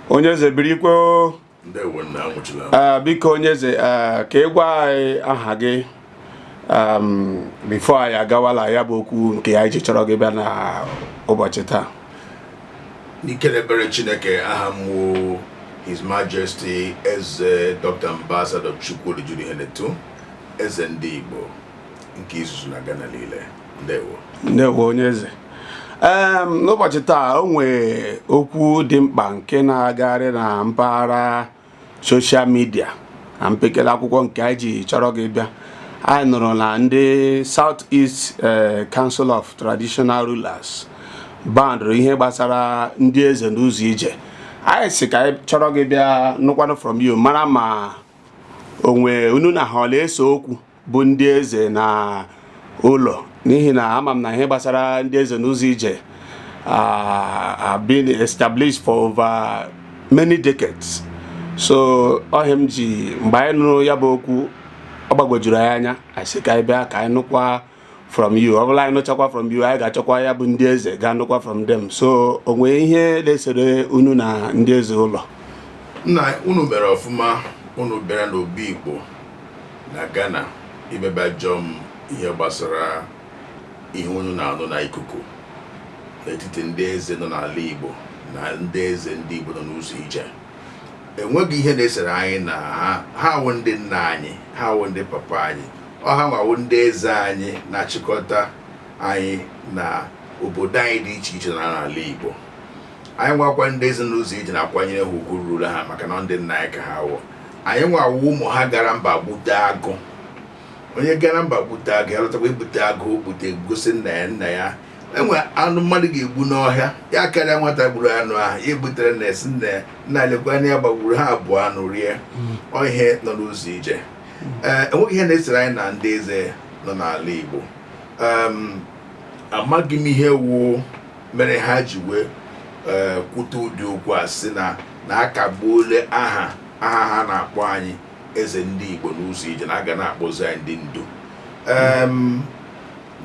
onye eze birikwe ah, biko onye eze ah, ka ị gwa anyị aha gị before anyị agawala ya bụ okwu nke anyị ji chọrọ gị bịa na ụbọchị taa n'ike na ebere chineke aha m his majesty eze dr ambassador chukwudi jude ihenetu eze ndị igbo nke izizi na Ghana niile ndewo onye eze n'ụbọchị taa o nwee okwu dị mkpa nke na-agagharị na mpaghara social media na mpekele akwụkwọ nke anyị ji chọrọ gị bịa anyị nụrụ na ndị South East eh, Council of Traditional Rulers bandụrụ ihe gbasara ndị eze n'ụzọ ije anyị sị ka anyị chọrọ gị bịa nụkwanụ from you mara ma onwe unu na ha ọ na-ese okwu bụ ndị eze na ụlọ n'ihi na ama m na ihe gbasara ndị eze n'ụzọ ije have been established for over many decades so ọ ihe m ji mgbe anyị nụrụ ya bụ okwu ọ gbagwojuru anyị anya anyị sị ka anyị bịa ka anyị nụkwa from you ọ bụla anyị nụchakwa from you anyị ga-achọkwa ya bụ ndị eze gaa nụkwa from them so o nwee ihe na-esere unu na ndị eze ụlọ nna unu mere ọfụma unu bịara n'obi igbo na ghana wee bịa jụọ m ihe gbasara ihe unu na-anụ na ikuku n'etiti ndị eze nọ n'ala igbo na ndị eze ndị igbo nọ n'ụzọ ije enweghị ihe na-esere anyị na ha ha wụ ndị nna anyị ha wụ ndị papa anyị ọ ha nwa wụ ndị eze anyị na-achịkọta anyị na obodo anyị dị iche iche na n'ala Igbo anyị nwakwa ndị eze n'ụzọ ije na-akwanyere ha ugwu ruru ha maka na ndị nna anyị ka ha wụ anyị nwa wụ ụmụ ha gara mba gbute agụ onye gara mba gbute agụ ya lọtakwa ibute agụ gbute gosi nna ya nna ya enwe anụ mmadụ ga-egbu n'ọhịa ya karịa nwata gburu anụ ahụ ya ebutere nna ya sị nna ya nna lekwa anụ ya gbagburu ha abọọ anụ rie ọ ihe nọ n'ụzọ ije ee enweghị ihe na-esere anyị na ndị eze nọ n'ala Igbo amaghị m ihe wu mere ha ji wee eh, kwute ụdị okwu a sị na na akagbuole aha aha ha na-akpọ anyị eze ndị Igbo n'ụzọ ije na a ga na-akpọzi anyị ndị ndu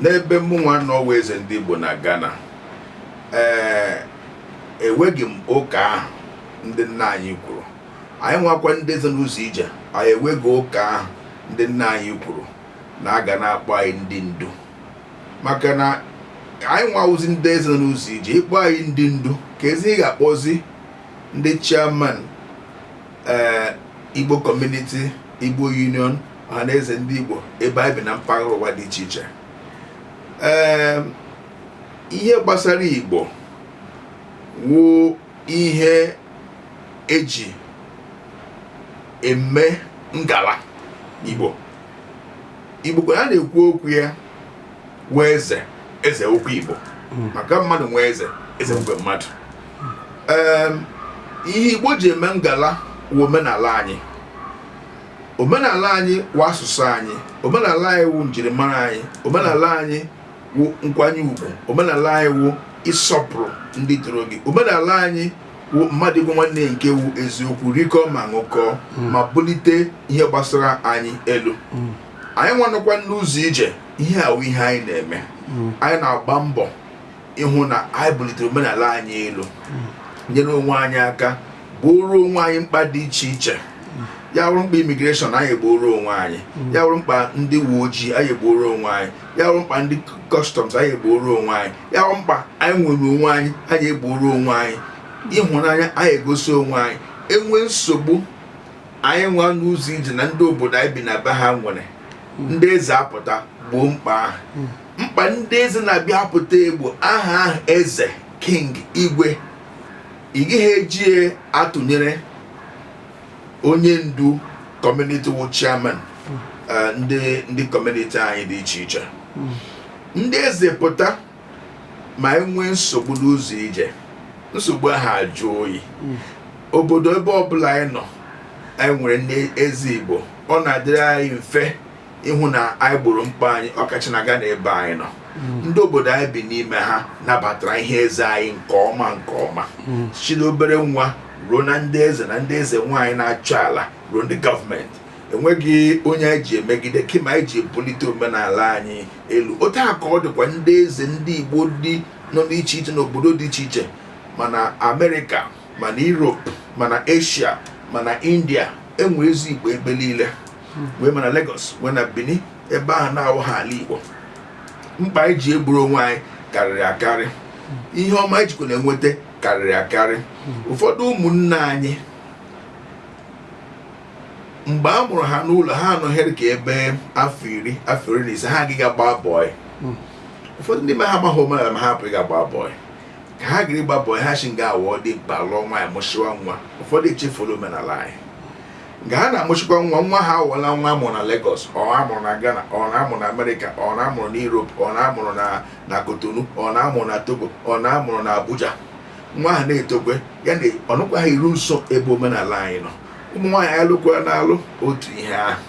n'ebe mụnwa nọ wụ eze ndị Igbo na Ghana ee eh, eweghị m ụka ahụ ndị nna anyị kwuru anyị nwakwa ndị eze n'ụzọ ije anyị eweghị ụka ahụ ndị nna anyị kwuru na a ga na-akpọ anyị ndị ndu maka na anyị nwa wụzi ndị eze nọ n'ụzọ ije ịkpọ anyị ndị ndu keezi ihe ị ga-akpọzi ndị chairman ee igbo community igbo union ọhanaeze ndị igbo ebe anyị bi na mpaghara ụwa dị iche iche ee ihe gbasara igbo wụ ihe eji eme ngala igbo igbo kwa a na-ekwu okwu ya nwe eze eze nwekwa igbo hmm. maka mmadụ nwe eze eze nwekwa mmadụ ihe igbo ji eme ngala wụ omenala anyị omenala anyị wụ asụsụ anyị omenala anyị wụ njirimara anyị omenala anyị wụ nkwanye ugwu omenala anyị wụ ịsọpụrụ ndị toro gị omenala anyị wụ mmadụ ịgwa nwanne ya nke wụ eziokwu rikọọ ma ṅụkọọ ma bulite ihe gbasara anyị elu anyị nwa nọkwa n'ụzọ ije ihe a wụ ihe anyị na-eme anyị na-agba mbọ ịhụ na anyị bulitere omenala anyị elu nyere onwe anyị aka gbooro onwe anyị mkpa dị iche iche ya wụrụ mkpa immigration anyị egbooro onwe anyị ya wụrụ mkpa ndị uwe ojii anyị egbooro onwe anyị ya wụrụ mkpa ndị customs anyị egbooro onwe anyị ya wụrụ mkpa anyị nwere onwe anyị anyị egbooro onwe anyị ịhụnanya anyị egosi onwe anyị enwe nsogbu anyị nwa n'ụzọ ije na ndị obodo anyị bi na be ha nwere ndị eze apụta gboo mkpa ahụ mkpa ndị eze na-abịa apụta egbo aha ahụ eze king igwe ị gaghị eji ya atụnyere onye ndu community wụ chairman eh, ndị ndị community anyị dị iche iche ndị eze pụta ma enwee nsogbu n'ụzọ ije nsogbu ahụ ajụ oyi obodo ebe ọbụla anyị nọ anyị nwere ndị eze igbo ọ na-adịrị anyị mfe ịhụ na anyị gboro mkpa anyị ọkacha na Ghana ebe anyị nọ mm. ndị obodo anyị bi n'ime ha nabatara ihe eze anyị nke ọma nke ọma mm. si n'obere nwa ruo na ndị eze na ndị eze nwaanyị na-achọ ala ruo ndị gọọmenti enweghị onye anyị ji emegide kama anyị ji ebulite omenala anyị elu otu a ka ọ dịkwa ndị eze ndị Igbo dị nọ n'iche iche n'obodo dị iche iche ma na Amerịka ma na Europe ma na Asia ma na India enwe eze Igbo ebe niile nwee ma na Lagos nwee na Benin ebe ahụ na-awụghị ala Igbo mkpa anyị ji egboro onwe anyị karịrị akarị ihe ọma anyị jikwa na-enweta karịrị akarị ụfọdụ ụmụnne anyị mgbe a mụrụ ha n'ụlọ ha anọghịrị ka ebe afọ iri afọ iri na ise ha aga ga agba bọị ụfọdụ ndị ma ha amaghị omenala ma ha apụghị agba bọị ka ha gara gba bọị ha si nga awụ dimkpa lụọ nwaanyị mụsịwa nwa ụfọdụ echefula omenala anyị nke ha na-amụchikwa nwa nwa ha awụla nwa amụrụ na Lagos ọ amụrụ na Ghana ọ na-amụrụ na Amerịka ọ na-amụrụ na Europe ọ na-amụrụ na Cotonou ọ na-amụrụ na Togo ọ na-amụrụ na Abuja nwa ahụ na-etokwe ya na ọnụkwa ha iru nso ebe omenala anyị nọ ụmụ nwaanyị alụkwa na-alụ otu ihe ahụ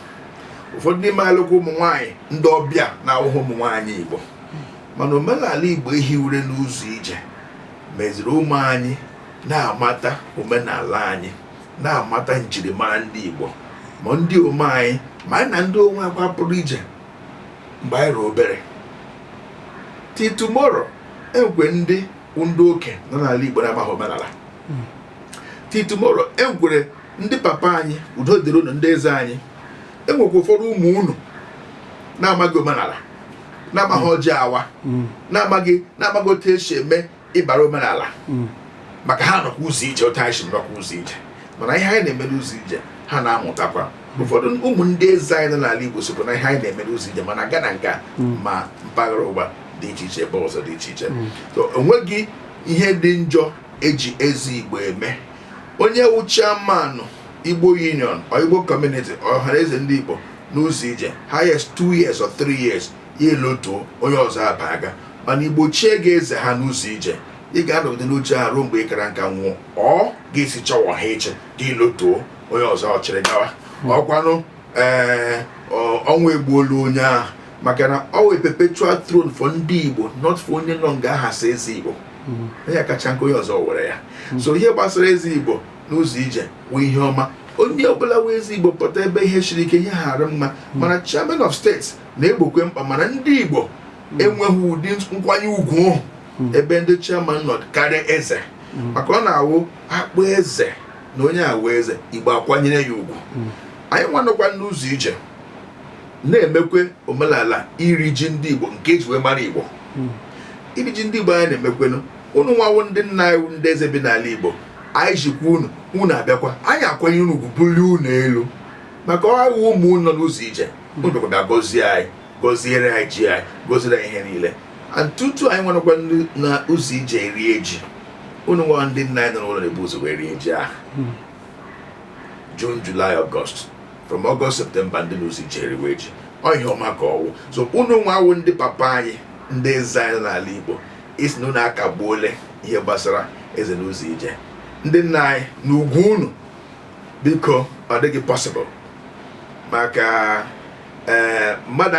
ụfọdụ n'ime alụkwa ụmụ nwaanyị ndị ọbịa na-awụghị ụmụ nwaanyị Igbo mana omenala Igbo ehiwere n'ụzọ ije meziri ụmụ anyị na-amata omenala anyị na-amata njirimara ndị Igbo ma ndị ụmụ anyị ma anyị na ndị onwe akwa pụrụ ije mgbe anyị rụrụ obere till tomorrow enwekwe ndị ndị oke nọ n'ala Igbo na-amaghị omenala hmm. till tomorrow enwere ndị papa anyị udo dịrị unu ndị eze anyị enwekwa ụfọdụ ụmụ unu na-amaghị omenala na-amaghị hmm. ọjị awa hmm. na-amaghị na-amaghị otu esi eme ihe bara omenala hmm. maka ha nọkwa ụzọ ije otu anyị si nọkwa ụzọ ije mana ihe anyị na-eme n'ụzọ ije ha na-amụtakwa hmm. ụfọdụ ụmụ ndị eze anyị nọ n'ala Igbo sokwa na ihe anyị na-eme n'ụzọ ije ma na Ghana nga hmm. ma mpaghara ụwa dị iche iche ebe ọzọ dị iche iche onweghị ihe dị njọ eji eze Igbo eme onye wụ chairman Igbo Union or Igbo Community ọhanaeze ndị Igbo n'ụzọ ije highest two years or three years ya elotuo onye ọzọ abaga mana Igbo chie gị eze ha n'ụzọ ije ị ga-anọgide n'oche ha ruo mgbe ị kara nka nwụọ ọ ga-esi chọwa ha iche gị lotuo onye ọzọ achịrị gawa hmm. ọkwanụ ee ọnwụ egbuole onye ahụ maka na ọ wụ perpetual throne for ndị Igbo not for onye nọ nga ahụ as eze Igbo hmm. onye kachaa nka onye ọzọ ewere ya hmm. so ihe gbasara eze Igbo n'ụzọ ije wụ ihe ọma onye ọbụla wụ eze Igbo pụta ebe ihe siri ike ihe ghara mma mana chairman of state na-egbokwe mkpa mana ndị Igbo hmm. enweghị ụdị nkwanye ugwu hmm. ebe ndị chairman nọ karịa eze hmm. maka ọ na-awụ akpọ eze na onye awụ eze Igbo akwanyere ya ugwu anyị nwa nọkwa n'ụzọ ije na-emekwe omenala iri ji ndị Igbo nke eji wee mara Igbo iri ji ndị Igbo anyị na-emekwenụ unu nwa wụ ndị nna anyị ndị eze bi n'ala Igbo anyị jikwa unu unu abịakwa anyị akwanyere unu ugwu bulie unu elu maka ọ wụ ụmụ unu nọ n'ụzọ ije o mekwa bịa gọzie anyị gọziere anyị ji anyị gọziere anyị ihe niile and tutu anyị nwa nọkwa na ụzọ ije erie ji unu nwa ndị nna anyị nọ n'ụlọ na-ebu ụzọ wee rie ji ahụ June, July, August. From August, September, ndị n'ụzọ ije eriwe ji. Ọ ihe ọma ka ọwụ. So unu nwa wụ ndị papa anyị ndị eze anyị nọ n'ala Igbo ịsị na unu akagbuole ihe gbasara eze n'ụzọ ije. Ndị nna anyị na ugwu unu biko ọ dịghị possible maka ee eh, mmadụ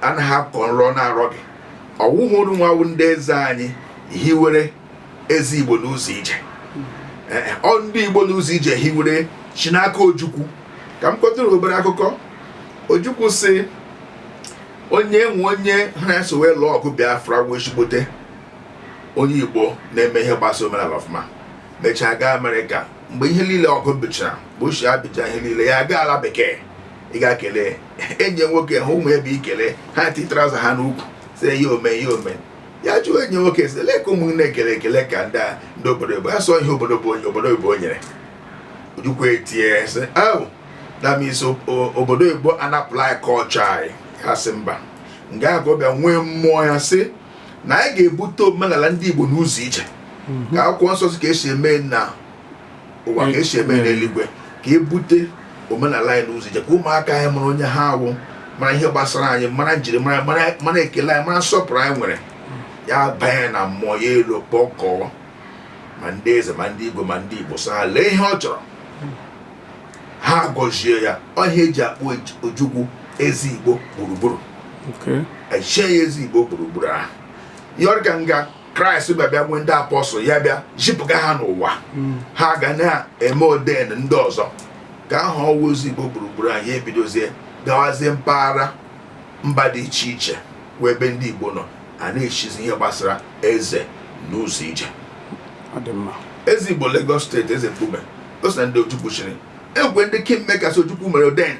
anaghị akọ nrọ na-arọ gị ọ wụhụ unu nwa wụ ndị eze anyị hiwere eze igbo n'ụzọ ije eh, eh, ọ ndị igbo n'ụzọ ije hiwere shi n'aka ojukwu ka m kọtụrụ obere akụkọ ojukwu sị o nwe onye ha na-eso wee lụọ ọgụ biafra wụ ezigbote onye igbo na-eme ihe gbasara omenala ọfụma mechaa gaa amerịka mgbe ihe niile ọgụ bichara mgbe ochie ya bịcha ihe niile ya gaa ala bekee ịga ekele enyi nwoke ha ụmụ ebe ikele ha ti trouser ha n'ukwu si ihe ome ihe ome ya jụọ enyi nwoke si lee ka ụmụnne ekele ekele ka ndị ndị obodo oyibo ya sị ọ ihe obodo bụ onye obodo oyibo nyere ojukwu etie sị that means obodo oyibo anapụla anyị culture anyị ha sị mba nga ahụ ka ọ bịa nwee mmụọ ya sị na anyị ga-ebute omenala ndị Igbo n'ụzọ ije mhm. ka akwụkwọ nsọ sị ka esi eme na ụwa ka esi eme n'eluigwe ka ebute omenala anyị n'ụzọ ije ka ụmụaka anyị mara onye ha awụ mara ihe gbasara anyị mara njirimara mara ekele anyị mara nsọpụrụ anyị nwere ya banye na mmụọ ya alọ kpọkọọ ma ndị eze ma ndị igwe ma ndị igbo sị ha lee ihe ọ chọrọ ha gọzie ya ọ ihe eji akpọ ojukwu eze igbo gburugburu echie ya eze igbo gburugburu ahụ yiri ka nga kraịst bịa bịa nwee ndị apostle ya bịa zipụga ha n'ụwa hmm. ha ga na-eme ordain ndị ọzọ ka ahụ ọ wụ eze igbo gburugburu ahụ ya ebidozie gawazie mpaghara mba dị iche iche wee ebe ndị igbo nọ a na-echizi ihe gbasara eze n'ụzọ ije eze igbo Lagos state eze mkpume o so na ndị Ojukwu chiri e nwe ndị kingmakers Ojukwu mere ordain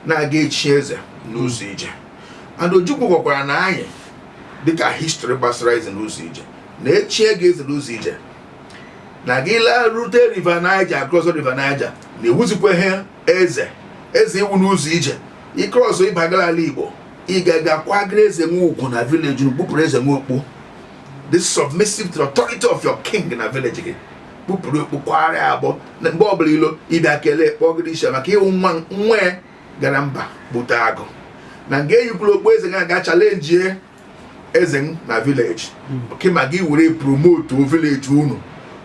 na-aga echi eze n'ụzọ ije and Ojukwu gwakwara na anyị dịka history gbasara eze n'ụzọ ije na echie gị eze n'ụzọ ije na gị laa rute river Niger ị cross river Niger na ị wụzikwaghị eze eze ị wụ n'ụzọ ije ị cross ị bagara ala Igbo ị ga-aga kwanyere eze unu ugwu na village unu kpupụrụ eze unu okpu be submissive to the authority of your king na village gị kpupụrụ okpu kwara ya agbọ na mgbe ọbụla ị lọ ị bịa kelee kpọgide isi maka ị wụ nwa nwa ya gara mba bute akụ na nga eyikwuru okpu eze ga-aga challengie eze na village kama gị were promote village unu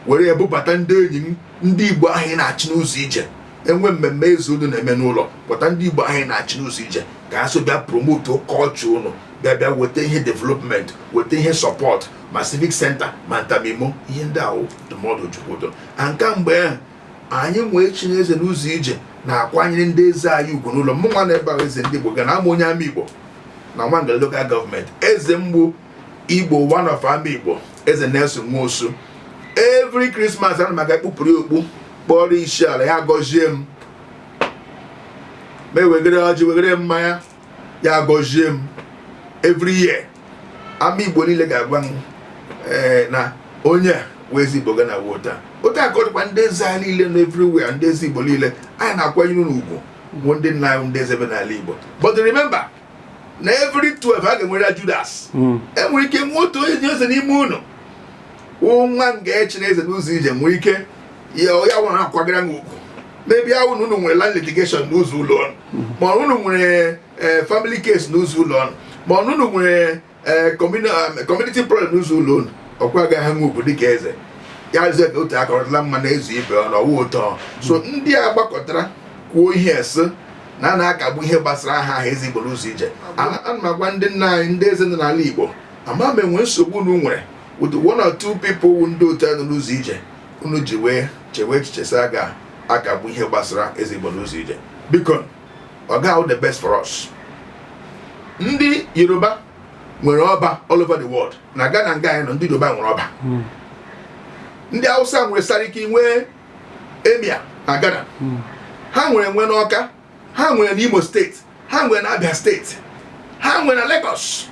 were ebubata ndị enyi ndị igbo ahụ ị na-achị n'ụzọ ije e nwee mmemme eze unu na-eme n'ụlọ kpọta ndị igbo ahụ ị na-achị n'ụzọ ije ka ha so bịa promote culture unu bịa bịa weta ihe development weta ihe support ma civic center ma nta ma imo ihe ndị ahụ ndụmọdụ Ojukwu ụtọ na nke mgbe ahụ anyị wee chie eze n'ụzọ ije na-akwanyere ndị eze anyị ugwu n'ụlọ mụ nwa n'ebe a wụ eze ndị igbo Ghana awụ m onye Amaigbo na Nwangele local government eze m bụ igbo one of Amaigbo eze nelson nwosu every Christmas ana m aga kpụpụrụ okpu kpọrọ isi ala ya gọzie m ma ewegere ọjị wegere mmanya ya gọzie m every year Amaigbo niile ga-agwa m eh, na onye a wụ eze igbo Ghana wota otu a ka ọ dịkwa ndị eze anyị niile nọ everywhere ndị eze igbo niile anyị na-akwanyere unu ugwu bụ ndị nna anyị ndị eze bi n'ala igbo but remember na every 12 a ga-enwere judas enwere ike nwee otu onye eze n'ime unu wụ nwa m ga-echi na eze n'ụzọ ije nwee ike ya ya nwere akwagara m ugwu maybe ha na unu nwere land litigation n'ụzọ ụlọ ọrụ ma ọ unu nwere eh, family case n'ụzọ ụlọ ọrụ ma ọ unu nwere eh, communi- um, community problem n'ụzọ ụlọ unu ọkwa agaghị nwe ugwu dịka eze ya eze ka otu aka rụtala mmanụ ezuo ibe ọnụ ọwụ ụtọ so ndị a gbakọtara kwuo ihe a sị na a na-akagbu ihe gbasara aha ahụ eze igbo n'ụzọ ije ana m agwa ndị nna anyị ndị eze nọ n'ala igbo ama m enwe nsogbu unu nwere with one or two people wụ ndị otu a nọ n'ụzọ ije unu ji wee chewe echiche sị a ga-akagbu ihe gbasara eze igbo n'ụzọ ije biko ọ gaghị awụ the best for us ndị yoruba nwere ọba all over the world na Ghana nga anyị nọ ndị yoruba nwere ọba hmm. ndị hausa nwere sariki nwee emir na Ghana hmm. ha nwere nwe n'ọka ha nwere n'imo steeti ha nwere na Abia steeti ha nwere na Lagos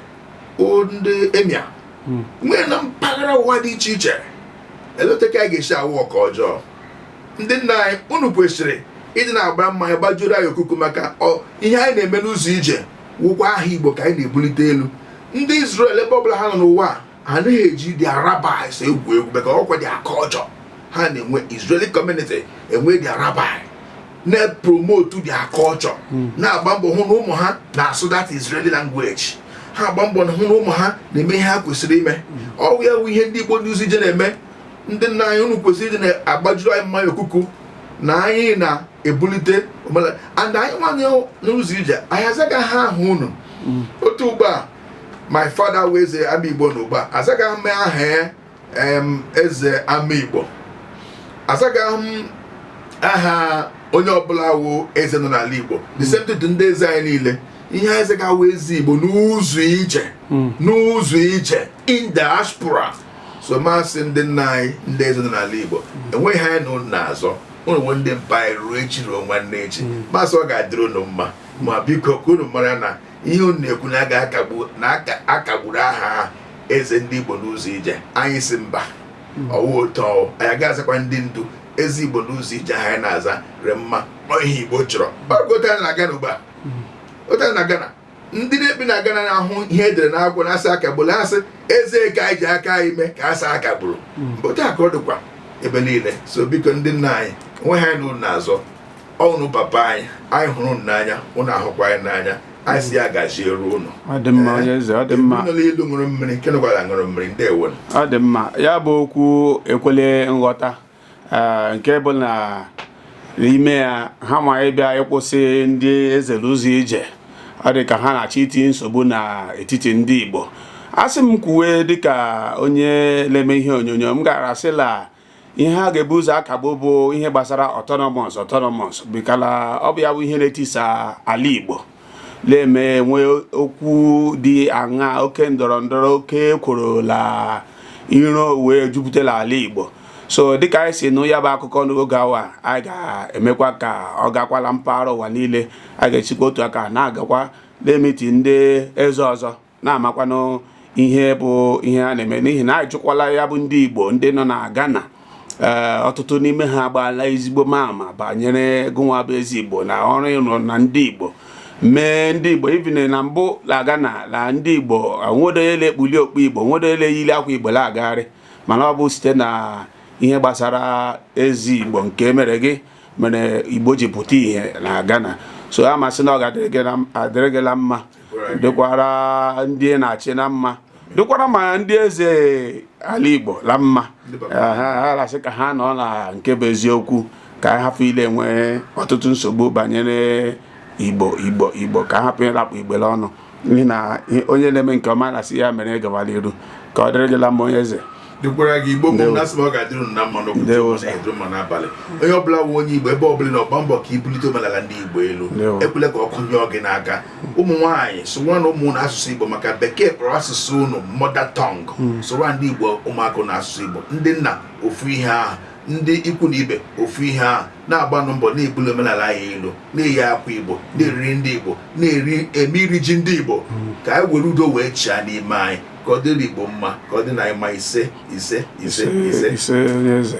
ndị emir hmm. nwere na mpaghara ụwa dị iche iche elee otu nke anyị ga-esi awụ nke ọjọọ ndị nna anyị unu kwesịrị ịdị na-agba mmanya gbajuru anyị okuku maka ihe anyị na-eme n'ụzọ ije wụkwa aha Igbo ka anyị na-ebulite elu ndị Israel ebe ọbụla ha nọ n'ụwa ha anaghị eji their rabbis egwu egwu maka ọkwa their culture ha na-enwe Israeli community enwe their rabbi na-epromote their culture hmm. na-agba mbọ hụ na ụmụ ha na-asụ that Israeli language ha agba mbọ na-ahụ na ụmụ ha na-eme ihe ha kwesịrị ime hmm. ọwụ ya wụ ihe ndị Igbo ndị ụzọ ije na-eme ndị nna anyị unu kwesịrị ịdị na-agbajuru anyị mmanya okuku na anyị na-ebulite and anyị wụ eze n'ụzọ ije anyị azaghị aha unu hmm. otu ugbu a my father wụ eze Amaigbo n'ugbu a azaghị m aha em eze Amaigbo azaghị m aha onye ọbụla wụ eze nọ n'ala igbo the same thing to ndị eze anyị niile ihe anyị zaga wụ eze igbo n'ụzọ ije n'ụzọ ije in diaspora so m asị ndị nna anyị ndị eze nọ n'ala igbo enweghị ihe anyị na ụnụ na-azọ ụnụ wụ ndị mpa anyị ruo echi ruo nwanne echi m asị ọ ga-adịrị ụnụ mma ma biko ka unu mara na ihe unu na-ekwu na a ga-akagbu na akagburu aha eze ndị Igbo n'ụzọ ije anyị sị mba hmm. ọ wụ ụtọ anyị ga-azakwa ndị ndu eze Igbo n'ụzọ ije aha anyị na-aza re mma ihe Igbo chọrọ otu na Ghana ugbu a hmm. otu na Ghana ndị na-ebi na Ghana na-ahụ ihe e dere n'akwụkwọ na-asị akagburu asị eze ka anyị ji aka anyị mee ka asị akagburu hmm. otu a ka ọ dịkwa ebe niile so biko ndị nna anyị onwe ha na unu na-azọ ọnụ papa anyị anyị hụrụ unu n'anya unu ahụkwa anyị n'anya anyị sị ya gaziere unu ọ dị mma onye eze ọ dị mma nọ n'elu ṅụrụ mmiri nke nọkwara ṅụrụ mmiri ndewo ọ dị mma ya bụ okwu ekwele nghọta ee, nke bụ na n'ime ya hanwa ịbịa ịkwụsị ndị eze l'ụzọ ije ọ dị ka ha na-achọ itinye nsogbu n'etiti ndị Igbo a sị m kwuwe dịka onye na-eme ihe onyonyo m gara asị la ihe ha ga-ebu ụzọ akagbu bụ ihe gbasara autonomous autonomous bikala ọ bụ ya bụ ihe na-etisa ala Igbo na-eme e nwee okwu dị aṅa oke ndọrọ ndọrọ oke ekworo la iro wee jupụtara ala Igbo so dịka anyị si nụ ya bụ akụkọ n'oge a nwa anyị ga-emekwa ka ọ gakwala mpaghara ụwa niile a ga-esikwa otu a ka na-agakwa na-emiti ndị eze ọzọ na-amakwanụ ihe bụ ihe a na-eme n'ihi na ajụkwala ya bụ ndị Igbo ndị nọ na Ghana eh, ọtụtụ n'ime ha agbaala ezigbo ama banyere gụnwa bụ eze Igbo na ọrụ ị rụ na ndị Igbo mee ndị Igbo even na mbụ na Ghana na ndị Igbo nwedoele ekpuli okpu Igbo nwedoele yiri akwa Igbo na-agagharị mana ọ bụ site na ihe gbasara eze Igbo nke e mere gị mere Igbo ji pụta ihe na Ghana so a ma m sị na ọ ga-adịrị gị na mma dịkwara ndị na-achị na mma dịkwara ma ndị eze ala Igbo la mma ha la-asị ka ha nọ na nke bụ eziokwu ka anyị hapụ ịla-enwe ọtụtụ nsogbu banyere Igbo Igbo Igbo ka a hapụ ịla-akpụ Igbo l'ọnụ n'ihi na onye na-eme nke ọma a na-asị ya mere gawara iru ka ọ dịrị gị la mma onye eze dịkwara gị igbo bụ na-asị na ọ ga-adịrị unu mma n'ụtụtụ dịrị mma n'abalị onye ọbụla wụ onye igbo ebe ọbụla ị nọ gba mbọ ka i bulite omenala ndị igbo elu ekwele ka ọkụ nyụọ gị n'aka ụmụ nwaanyị sụwanụ ụmụ unu asụsụ igbo maka bekee kpọrọ asụsụ unu mother tongue hmm. sụwa ndị igbo ụmụaka unu asụsụ igbo ndị nna ofu ihe ahụ ndị ikwu na ibe ofu ihe ahụ na-agbanụ mbọ na-ebuli omenala anyị elu na-eyi akwa igbo na-eri nri ndị igbo na-eme iri ji ndị igbo hmm. ka anyị were udo wee chịa n'ime anyị ka ọ dịrị Igbo mma ka ọ dị anyị mma ise ise ise ise ise onye eze